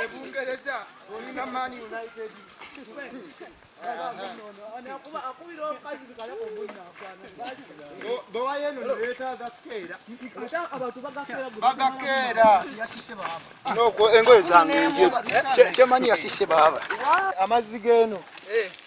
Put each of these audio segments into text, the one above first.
ebungereza olina man united bwewayeno newetaaga kukeera bagakeera engoye zange kyemanyi yasise baaba amazzi geno eh.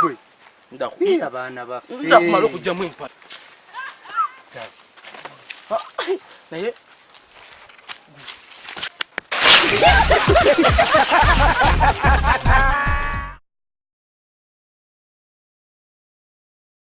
gwe ndakuyiya baana baffe ndakumala okujjamu empala naye